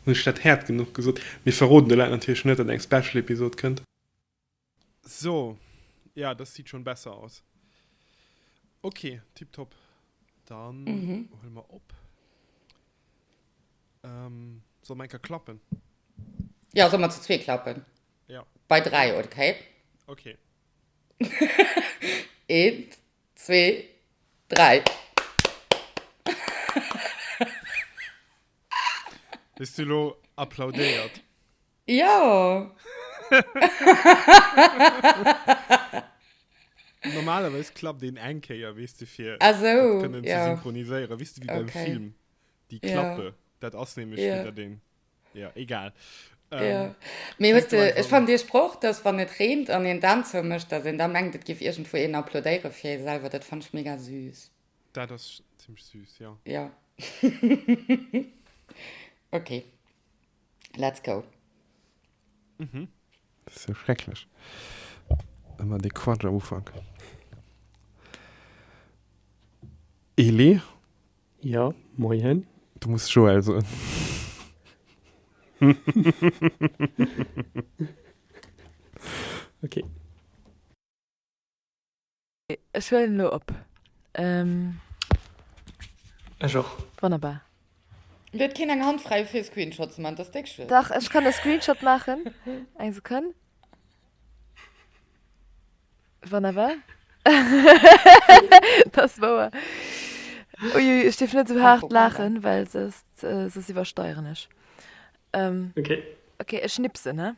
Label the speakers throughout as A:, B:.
A: Hunn ech dat haart genuch gesot? Mir verroden de Leit natierlech net, datt eng Special Episode kënnt. So, ja dass siit schon besser aus. Ok tip top dann huele mer op. Solle mer enker klappen? Jo
B: solle mer zu zwee klappen. Ja. Bei dräi,
A: okay?
B: Okay. Eent, zwee, dräi.
A: Hues du lo applaudéiert? Ja. Normalerweis klappt den eng Kéier, wees du, fir also, dat kënnen ja. ze
B: synchroniséieren.
A: Wees du, wie okay. beim Film, déi Klappe, ja. dat ass nämlich ja. den. Ja, egal. Ja. Ähm, Mee
B: fänk huet, du äh, einfach ech fand an. Dir Sproch, dass wann et reent an een d'Aan zou mécht, dass een da mengt, et géif iergendwou een applaudéiere fir ee selwer, dat fand ech mega süß. Dat ass
A: zimmlech süß, jo. Jo.
B: Okay. Let's go. Mhm.
A: Dat ass jo schrecklech, ëmmer dee Quatsch am Ufank. Elie?
C: Jo, moien. Du muss Joël
A: soen.
C: Ok.
D: Ech huelen elo op.
C: Ech och. Wonnerbar.
D: Dir huet
B: keen eng Hand fräi fir e Screenshot ze man, dass déck schlecht. Dach ech kann e Screenshot
D: maachen, eng Sekonn. Wonnerbar. Dass wouer. Ui ui, ech dierf net esou haart laachen, well soss iwwersteieren ech. Ok.
C: Ok, ech
D: schnipsen, he.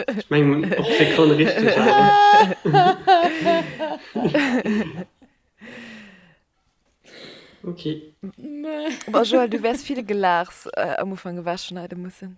C: Ech mengen op d'Sekonn richteg, awer. Ok. Bon
D: Joël, du wäers vill gelaachs am Ufank ewech schneide mussen.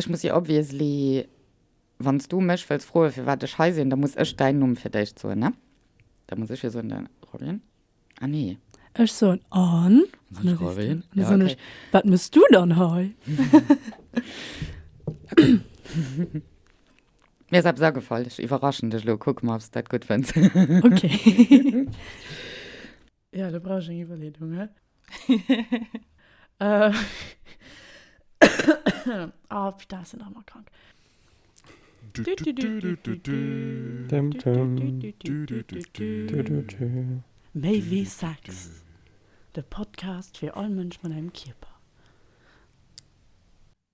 B: Ech muss jo obviously, wann s du mech wëlls froen, firwat ech hei sinn, da muss ech däin Numm fir d'éischt soen, ne? Da muss ech jo soen, den Robin. Ah nee. Ech soen,
E: An? An de Robin. An da
B: soen ech,
E: Wat muss
B: du dann
E: hei?
B: Mir ass eppes agefall. Ech iwwerraschen dech elo. Kucke mer, ob s dat gutt fënns. Okay.
E: Ja, da brauch ech eng Iwwerleedung, he? Äh. Ah, putain, ech sinn nach ëmmer krank. Méi wéi Sex, de Podcast fir all Mënsch mat engem Kierper.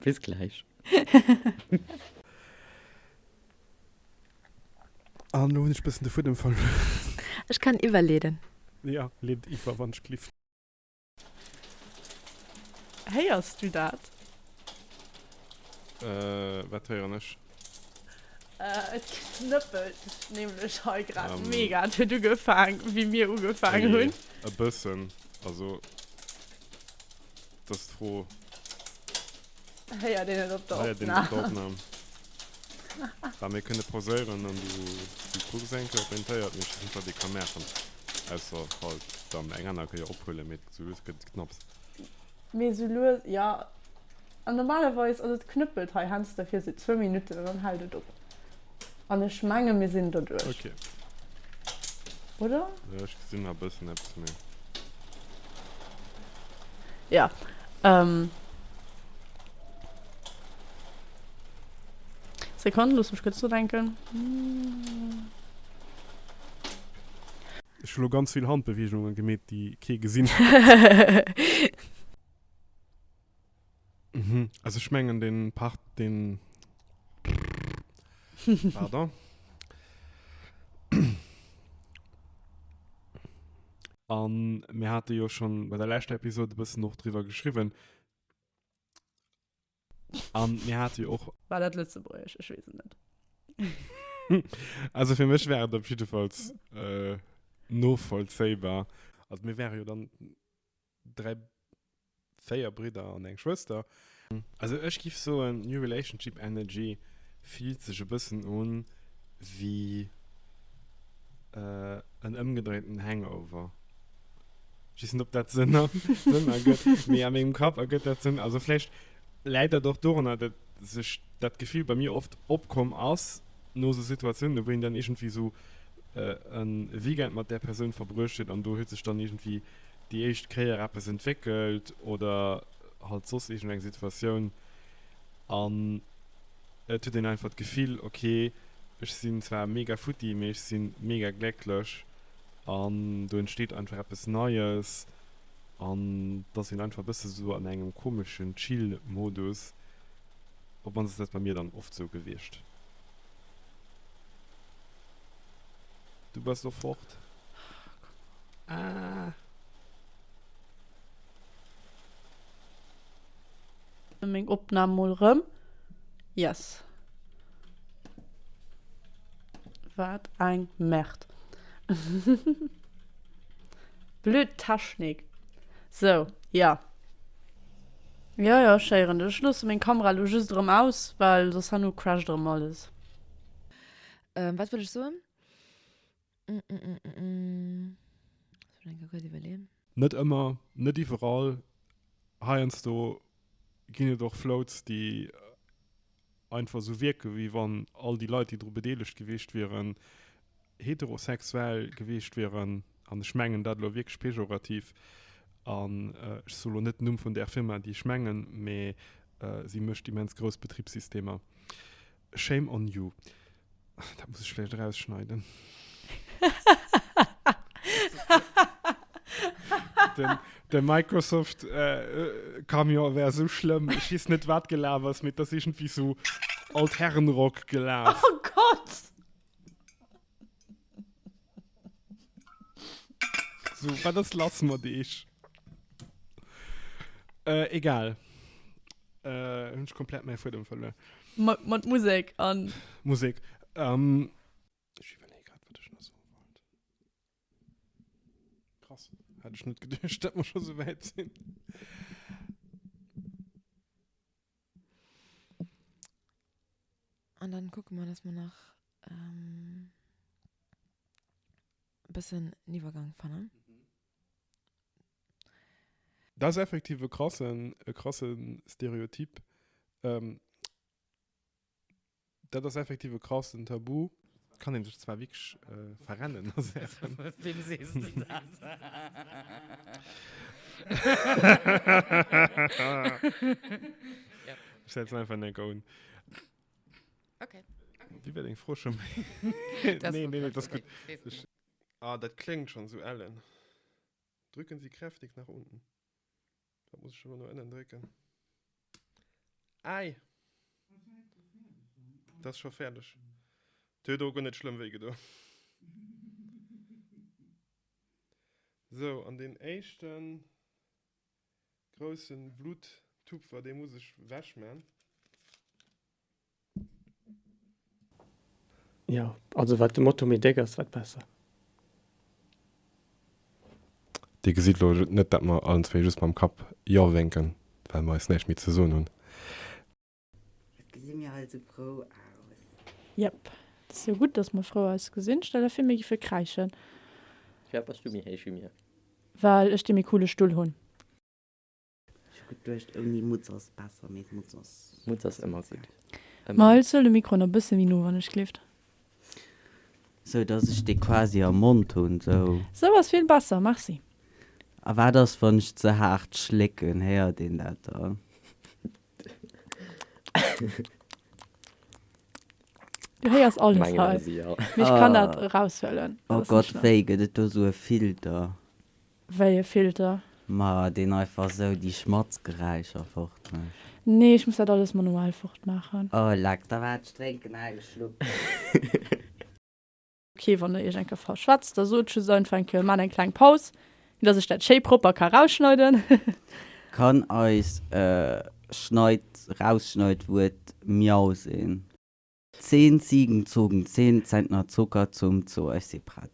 B: Bis gläich.
A: An elo hunn ech bëssen de Fuedem verluer. Ech kann
D: iwwerleeden. Jo, leet
A: iwwer, wann ech gelift.
E: Héiers du dat?
A: Wat héieren ech?
E: Et knëppelt sech nämlech hei grad mega. Et huet ugefaang, wéi mir ugefaangen hunn. E bëssen.
A: Also, et ass d'Fro.
E: Héiert een et op der Opnam? Héiert een et op der Opnam?
A: Bah, mir kënne pauséieren an du kucks eng Kéier op däin Téier, ob mir scho Schnitt erdé ka maachen. Ausser falls dann eng aner Kéier ophuelen, mee et gëtt souwisou knapps. Mee
E: sou lues, jo. An normalerweis ass et knëppelt hei heiansdo fir sou zwou Minutten an dann hält et op. An ech menge mir sinn doduerch, oder? Jo, ech gesinn
A: nach e bëssen eppes méi.
E: Jo, Sekonn, looss mech kuerz nodenken.
A: Ech hu lo ganz vill Handbeweegungen gemeet, déi kee gesinn huet. Mhm. Also ech mengen den Part den pardon. An mir hate jo schon bei der leschter Episode e bëssen och driwwer geschriwwen. An mir hate jo och. War dat Lëtzebuergesch? Ech
E: weess et net. Also
A: fir mech wär et op jiddefalls novollzéibar. Also mir wäre jo dann dräi, véier Bridder an eng Schwëster. Also ech giff soen New Relationship Energy fillt sech e bëssen un wéi en ëmgedréiten Hangover. Just ob dat Sënn ergëtt. Mee a mengem Kapp ergëtt dat Sënn. Also vläicht läit dat och dorunner, datt sech dat Gefill bei mir oft opkomm ass, no esou Situatiounen, wou een dann iergendwéi esou e Weekend mat där Persoun verbruecht huet an do huet sech dann iergendwéi déi éischt Kéier eppes entwéckelt oder halt soss iergendeng Situatioun an et huet een einfach d'Gefill, okay, ech sinn zwar mega futti, mee ech si mega glécklech An do entsteet einfach eppes Neies an et ass een einfach e bësse sou an engem komeschen Chill-Modus. Op mannst ass dat bei mir dann oft sou gewiescht. Du bass lo fort? Ah!
E: Meng Opnahm mol rem yes. Waat eng Merd. Blöd Technik. So, ja. Jo jo chéieren, ech loosse meng Kamera elo just erem aus well soss herno crasht erem alles.
D: Waat wollt ech soen? Net ëmmer,
A: net iwwerall. Heiansdo ginn et och Floats, déi einfach esou wierken, wéi wann all déi Leit, déi dru bedeelegt gewiescht wieren, heterosexuell gewiescht wieren. An ech mengen dat elo wierklech pejorativ. An ech soe elo net den Numm vun där Firma, déi ech mengen, mee si mécht immens grouss Betribssystemer. Shame on you. Dat muss ech vläicht erausschneiden. den, den Microsoft äh, Camion wär so schlimm. Ich weiß nicht, was gelaufen ist, mit das irgendwie so Altherrenrock gelaufen. Oh Gott! So, wat ass lass mat eech? Äh, egal. Äh, hunn ech komplett mäi Fuedem verluer. Mat, mat Musek
E: an. Musek.
A: Ähm, ech iwwerleeë grad, wat ech nach soe wollt. Krass, hätt ech net geduecht, dat mer scho souwäit sinn.
D: An dann kucken mer dass mer nach e bëssen en Iwwergang fannen.
A: Dat ass effektiv e krasse Stereotyp. Dat ass effektiv e krassen Tabu. Kann een sech zwar wierklech verrennen a Saachen. Wem
B: sees de dat?
A: Ech setzen einfach en Enker un.
B: Ok. Wéi
A: war deng Fro scho méi? Nee, nee, dat ass gutt. Ah, dat kléngt schonn esou ellen. Drücken Sie kräftig nach unten. Wat muss ech elo no ënnen drécken? Äi! Et ass scho fäerdeg. Et huet och guer net schlëmm wéi gedo. Sou, an deen éischte groussen Bluttupfer, dee muss ech wech man.
C: Jo, also wat de Moto méi déck ass, wat besser.
A: Dir gesitt elo net, datt mer allen zwéi just mam Kapp Jo wénken, well mer eis näischt méi ze soen hunn.
F: Et gesi mir eis esou frou aus. Jep,
E: et ass jo gutt, datt mer frou eis gesinn. Stell der fir, mir géife kräischen. Firwat bass
G: du méi héich wéi mir? Well ech dee
E: méi coole Stull hunn.
F: Ech hu geduecht ouni Mutz ass besser, mee d'Mutz ass. Mutz ass ëmmer gutt.
G: Ëmmer. Miles, huel
E: de Mikro nach e bësse méi no, wannechgelift.
F: Sou dass ech dee quasi am Mond hunn, sou. Sou ass vill besser,
E: merci. A wat ass
F: wann ech ze haart schlécken, héiert een dat dann?
E: Du héiers alles hei. Mengen ech si, jo. Mee
G: ech
E: kann dat eraushuelen. Oh Gott, wéi
F: gëtt et do sou e Filter? Wéi e
E: Filter? Ma deen
F: einfach esou déi Schmatzgeräischer fort mécht? Nee, ech muss dat
E: alles manuell fort maachen. Oh leck, da war
F: d'Strénken ageschloen.
E: Ok, wann der iech eng Kéier verschwätzt, da sot just einfach eng Kéier, maacht eng kleng Paus, fir dass ech dat schéi propper ka rausschneiden. Kann
F: eis Schneid rausschneid Wuert Miau sinn? Zehn Ziegen zogen zehn Zentner Zucker zum Zoo. Ech si prett.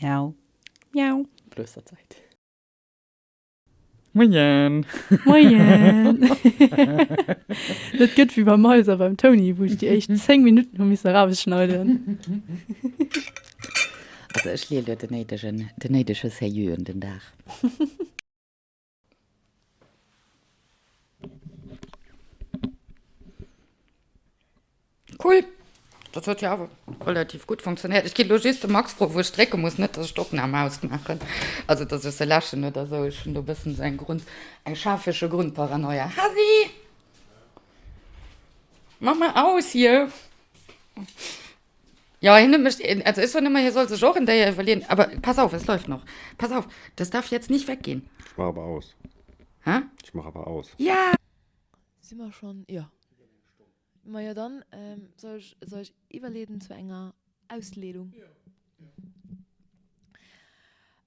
F: Miau. Miau.
E: Plösterzeit.
B: Moien. Moien.
E: Dat gëtt wie beim Maiser beim Toni, wou ech déi éischt 10 Minutten hu missen erausschneiden.
B: Also ech leeën do den néidegen, den néidege Sérieux un den Dag. Cool. Dat huet jo awer relativ gutt funktionéiert. Ech gi lo just de Max fro, wou ech drécke muss, net datt ech d'Opnam ausmaachen. Also datt ech se läschen oder esou. Ech hunn do e bëssen esou eng Grund, eng schafesche Grundparanoia. Hasi! Mach mol aus hier! Ja, hien huet mech, also ech soen ëmmer, hie soll sech och en Déier iwwerleeën, awer pass auf, es läuft noch. Pass auf, das darf jetzt nicht weggehen. Ich mach aber aus.
H: Hä? Ich
B: mach aber aus.
H: Ja!
B: Si mer
D: schonn? Jo. Majo, dann soll ech soll ech iwwerleeden zu enger Ausleedung?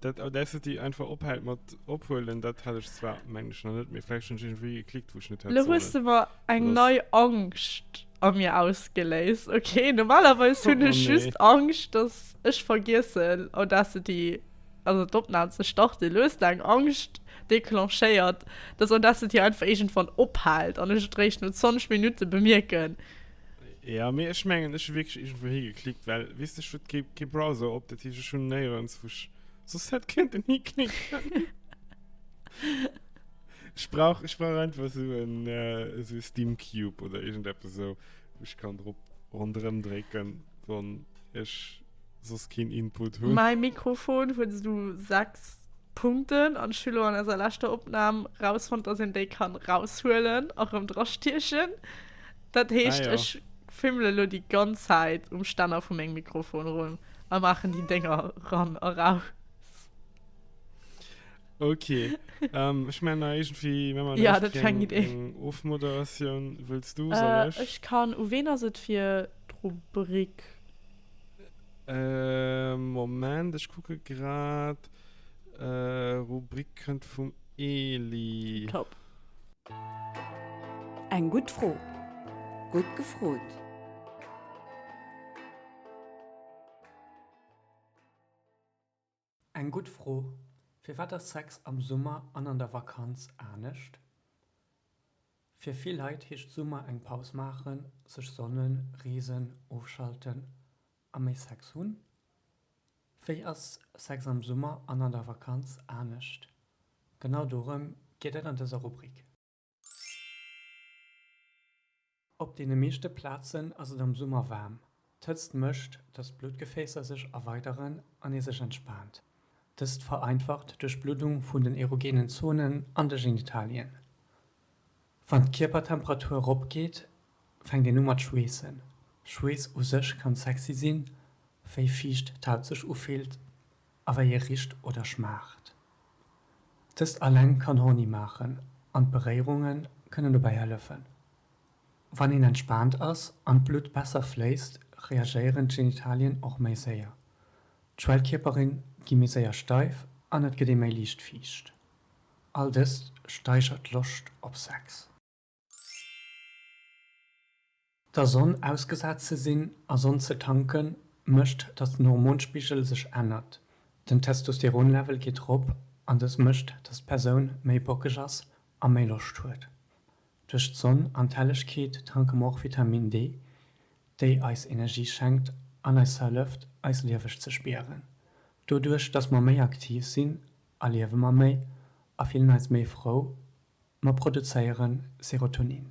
A: Dat Audacity einfach ophält mat ophuelen, dat hat ech zwar mengen ech nach net, mee vläicht hunn ech iergendwéi geklickt wou ech net hätt sollen. Lo hues de mer eng
E: nei Angscht a mir ausgeléist. Ok, normalerweis hunn ech just Angscht
A: dass
E: ech vergiessen Audacity, also d'Opnam ze starten. Lo hues de eng Angscht declenchéiert, dass Audacity einfach iergendwann ophält an ech et réischt no 20 Minutte bemierken. Ja
A: mee ech mengen ech hu wierklech iergendwou hi geklickt, well weess de ech huet kee kee Browser op, dat heescht ech hunn néierens wou ech soss hätt kënnten hiklicken. Ech brauch ech brauch einfach esou en esou e Steam Cube oder iergendeppes esou wou ech kann drop ronderëm drécken, wann ech soss keen Input hunn. Mäi Mikrofon huet
E: esou 6 Punkten an ech hu lo an eiser leschter Opnam rausfonnt, datt een déi kann raushuelen a rëm drastiechen. Dat heescht, ech fimmele
A: elo
E: déi ganz Zäit um Stänner vu mengem Mikrofon erëm a maachen déi Dénger eran a raus.
A: Ok, ech mengen da iergendwéi hu mer lech fir eng
E: Ofmoderatioun.
A: Wëlls du, soll ech? Ech kann. U ween ass et
E: fir d'Rubrik?
A: Moment, ech kucke grad. Rubrik kënnt vum Eli. Top.
I: Eng gutt Fro. Gutt
F: gefrot.
C: Eng gutt Fro. Firwat ass Sex am Summer an an der Vakanz anescht? Fir vill Leit heescht Summer eng Paus maachen, sech sonnen, reesen, ofschalten a méi Sex hunn? Wéi ass Sex am Summer an an der Vakanz anescht? Genau dorëm geet et an dëser Rubrik. Op deene meeschte Plazen ass et am Summer waarm. D'Hëtzt mécht, dass d'Bluttgefäässer sech erweideren an ee sech entspaant. Dëst vereinfacht d'Duerchbluddung vun den erogenen Zonen an de Genitalien. Wann d'Kierpertemperatur eropgeet, fänkt een u mat schweessen. Schweess u sech kann sexy sinn, wéi fiicht d'Haut sech ufillt a wéi e richt oder schmaacht. Dëst alleng kann horny maachen an d'Beréierunge kënnen dobäi hëllefen. Wann een entspaant ass an d'Blutt besser fléisst, reagéieren d'Genitalien och méi séier. D'Schwellkierpere gi méi séier steif an et gëtt ee méi liicht fiicht. All dëst steigert d'Loscht op Sex. Der Sonn ausgesat ze sinn a Sonn ze tanken, mécht, datt den Hormonspigel sech ännert. Den Testosteronlevel geet erop an dës mécht, datt d'Persoun méi bockeg ass a méi Loscht huet. Duerch d'Sonn an d'Hellegkeet tanke mer och Vitamin D, déi eis Energie schenkt an eis hëlleft, eis lieweg ze spieren. Doduerch, datt mer méi aktiv sinn, a liewe mer méi a fillen eis méi frou, mer produzéiere Serotonin.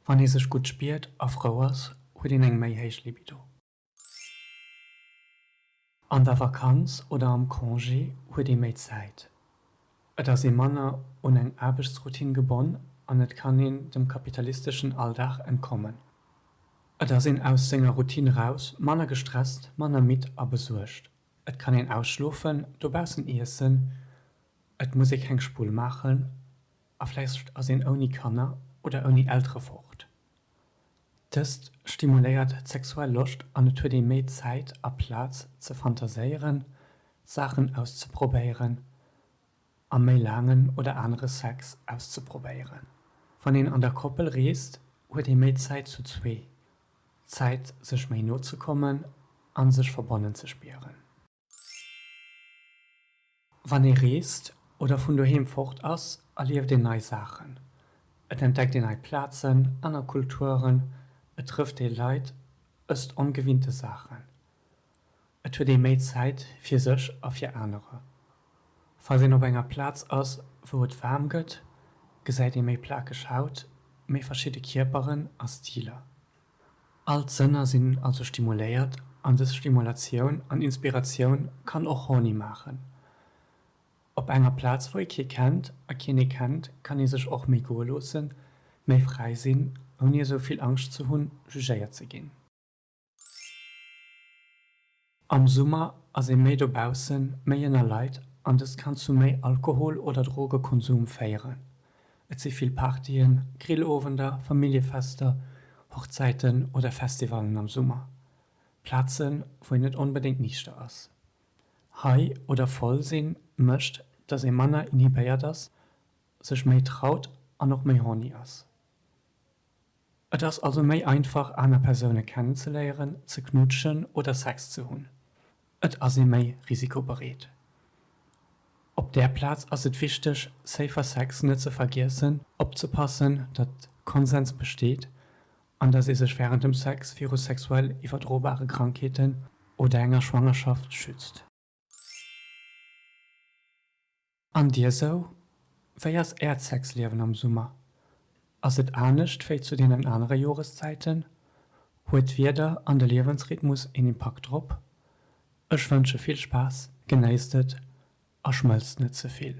C: Wann ee sech gutt spiert a frou ass, huet een eng méi héich Libido. An der Vakanz oder am Congé huet ee méi Zäit, et ass ee manner un eng Aarbechtsroutine gebonn an et kann een dem kapitalisteschen Alldag entkommen. Et ass een aus senger Routine raus, manner gestresst, manner midd a besuergt. Et kann een ausschlofen, dobaussen iessen, et muss ee keng Spull maachen a vläicht ass een ouni Kanner oder ouni Eltere fort. Dëst stimuléiert d'sexuell Loscht an et huet ee méi Zäit a Plaz ze fantaséieren, Saachen auszeprobéieren. a méi laangen oder anere Sex auszeprobéieren. Wann een an der Koppel reest, huet ee méi Zäit zu zwee, Zäit sech méi no ze kommen a sech verbonnen ze spieren. Wann ee reest oder vun doheem fort ass, erlieft een nei Saachen, et entdeckt een nei Plazen, aner Kulturen, et trëfft ee Leit, ësst ongewinnte Saachen. Et huet ee méi Zäit fir sech a fir anerer. Falls een op enger Plaz ass, wou et waarm gëtt, gesäit ee méi plakeg Haut, méi verschidde Kierperen a Stiler. All d'Sënner sinn also stimuléiert an dës Stimulatioun an Inspiratioun kann och horny maachen. Op enger Plaz, wou ee kee kennt a keen ee kennt, kann ee sech och méi goe loossen, méi fräi sinn, ouni esou vill Angscht ze hunn, jugéiert ze ginn. Am Summer ass ee méi dobaussen, méi ënner Leit an dëst kann zu méi Alkohol oder Drogekonsum féieren. Et si vill Partyen, Grillowender, Familljefester, Hochzäiten oder Festivalen am Summer, Plazen, wou een net onbedéngt niichter ass. High oder voll sinn mécht, dass ee manner inhibéiert ass, sech méi traut an och méi horny ass. Et ass also méi einfach, aner Persoune kennenzeléieren, ze knutschen oder Sex ze hunn. Et ass ee méi risikobereet. Op där Plaz ass et wichteg, Safer Sex net ze vergiessen, opzepassen, datt Konsens besteet an datt ee sech wärend dem Sex viru sexuell iwwerdrobare Krankheeten oder enger Schwangerschaft schützt. An dir sou? Wéi ass äert Sexliewen am Summer? Ass et anescht wéi zu deenen anere Joreszäiten? Huet d'Wieder an de Liewensrhythmus een Impakt drop? Ech wënsche vill Spaass, genéisst et a schmëlzt net ze vill.